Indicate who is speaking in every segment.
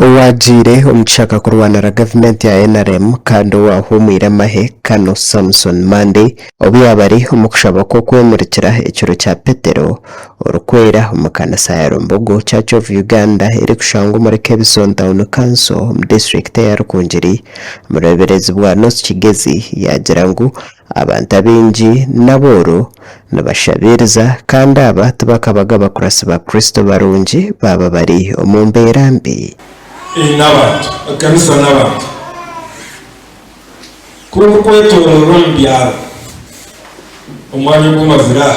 Speaker 1: Owaagiire omu kishaka kurwanira gavumenti ya nrm kandi owaahumwire amahe Kano Samson Mande obu yaaba ari omu kushaba kw'okwemurikira ekiro kya Petero orikwera omu kanisa ya Lumbugu Church of Uganda erikushangwa omuri Kebison Town Council omu disiturikiti eya Rukungiri omu rweberezi bwa North Kigezi yaagira ngu Abantu abaingi n'abooro nibashabiiriza, kandi aba tibakabaga bakuratsi ba Kristo barungi baaba bari omu mbeera mbi. Ei n'abantu,
Speaker 2: ekanisa n'abantu. Ku orikwetooroora omu byaro, omwanya ogu omazire aha,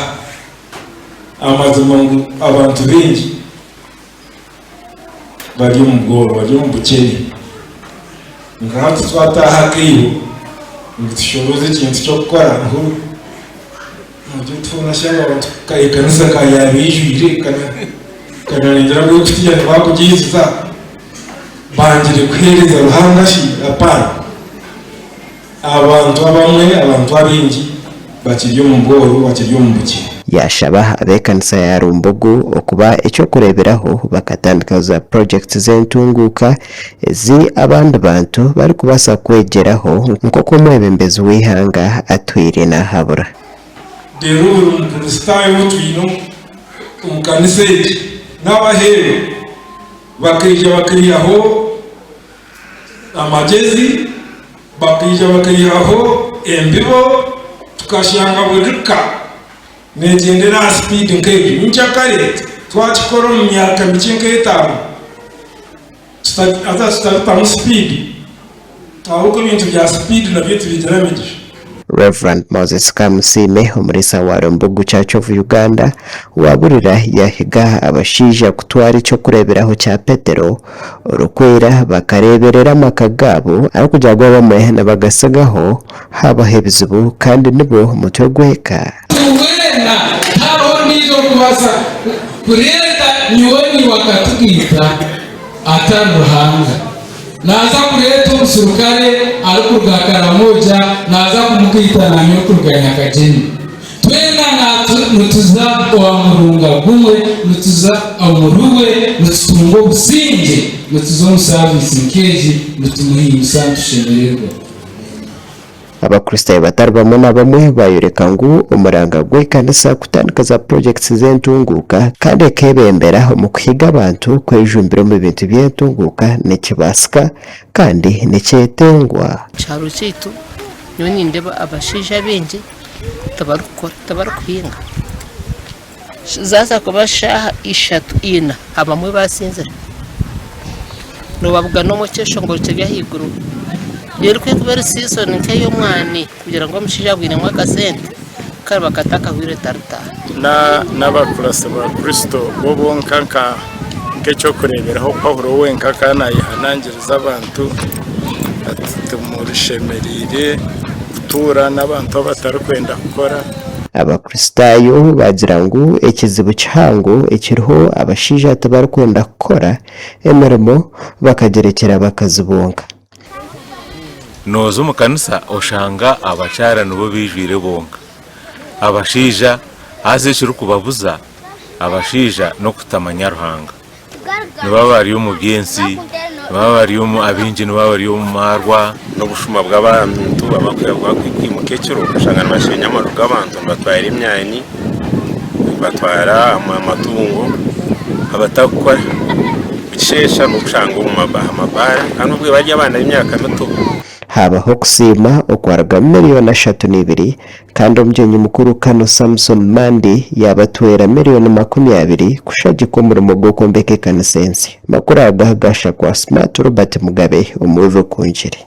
Speaker 2: amazima ngu abantu baingi. bari omu gooro, bari omu bukyene. Kwonka hati twataaha akaiho ngu tushoroze ekintu ky'okukora, niho twashanga abantu ekanisa ekaba yaaba eijwire, nkabareetera Ebiina baakugiriza, bangire kuheereza Ruhanga shi? Hapana! Aha bantu abamwe, abantu abaingi bakirya omu bworo, bakirya omu bukye. Yaashaba
Speaker 1: ab'ekanisa ya Rumbugu okuba eky'okureeberaho bakatandikaho za projects z'entunguuka ezi abandi bantu barikubaasa kwegyeraho nk'oku omwebembezi w'eihanga atwire naahabura. Reero
Speaker 2: buri mukristaayo ou twine omu kanisa egi n'abaheerwa bakaija bakaihaho. Amagyezi bakaija bakaihaho embibo tukashanga buri ka neegyendera aha sipiidi nk'egi. Ni kyo kare twakikora omu myaka mikye nk'etaano haza tutarutamu sipiidi ahabw'oku ebintu bya sipiidi nabyo tibigira migisha. Rev.
Speaker 1: Moses Kamusiime, omuriisa wa Rwembogo Church of Uganda, waaburira yaahiga abashaija kutwara eky'okureeberaho kya Petero orikwera bakareeberera amaka gaabo ahabw'okugira ngu abamwe nibagasigaho haabaho ebizibu kandi nibo mutwe gw'eka. Ngu weena
Speaker 3: tihariho ondiijo orikubaasa kureeta nyowe naiwe akatugaita atari Ruhanga. Naaza kureeta omuserukare arikuruga Karamoja naaza kumugaita naanyowe kuruga Nyakagyemi. Twena nituza owa murunga gumwe, nituza omuri we, nitutunga obusingye, nituza omu saaviisi nk'egi, nitumuhimbisa nitushemererwa. Abakristaayo
Speaker 1: batari bamwe na bamwe baayoreka ngu omuranga gw'ekanisa kutandika za projects z'entunguuka kandi ekeebembera omu kuhiga abantu kwejumbira omu bintu by'entunguuka nikibaasika kandi nikyetengwa. Omu kyaro kyaitu
Speaker 4: nyowe nindeeba abashaija baingi tibarikukora, tibarikuhinga. Zaaza kuba shaaha ishatu ina abamwe basinzire nobabuga nomukyeshongoro kiri ahaiguru erikuba eri season nkeyomwani kugira ngu omushaija abwinemu akasente kariba kati akahweire taritaaha.
Speaker 5: N'abakuratsi ba Kristo bo bonka nka. Nk'eky'okureeberaho, Paulo wenka akaba naayehanangiriza abantu ati, Timushemereire kutuura n'abantu abatarikwenda kukora. Abakristaayo
Speaker 1: baagira ngu ekizibu kihango ekiriho abashaija tibarikwenda kukora emirimo bakagyerekyera abakazi bonka.
Speaker 6: Nooza omu kanisa oshanga abakyara nibo beijwire bonka. Abashaija haza ekirikubabuza abashaija n'okutamanya Ruhanga. Nibaba bari omu by'ensi, nibaba bari omu abaingi nibaba bari omu maarwa. N'obushuma
Speaker 7: bw'abantu abarikuhingwa kwimuka ekiro oshanga nibasheenya amaju g'abantu nibatwara emyani, nibatwara amatungo abatarikukora. Nikisheesha n'okushanga omu aha mabaara kandi obwe bari abaana b'emyaka mito. Haabaho
Speaker 1: okusiima okwarugamu millioni ashatu n'ibiri kandi Omugyenyi Mukuru Kano Samson Mandi yaabatwera millioni makumi abiri kushagikwa omurimo gw'okwombeka ekanisa ensya. Amakuru aga aha gaasha kwa Smart Robert Mugabe omu Weave Okungire.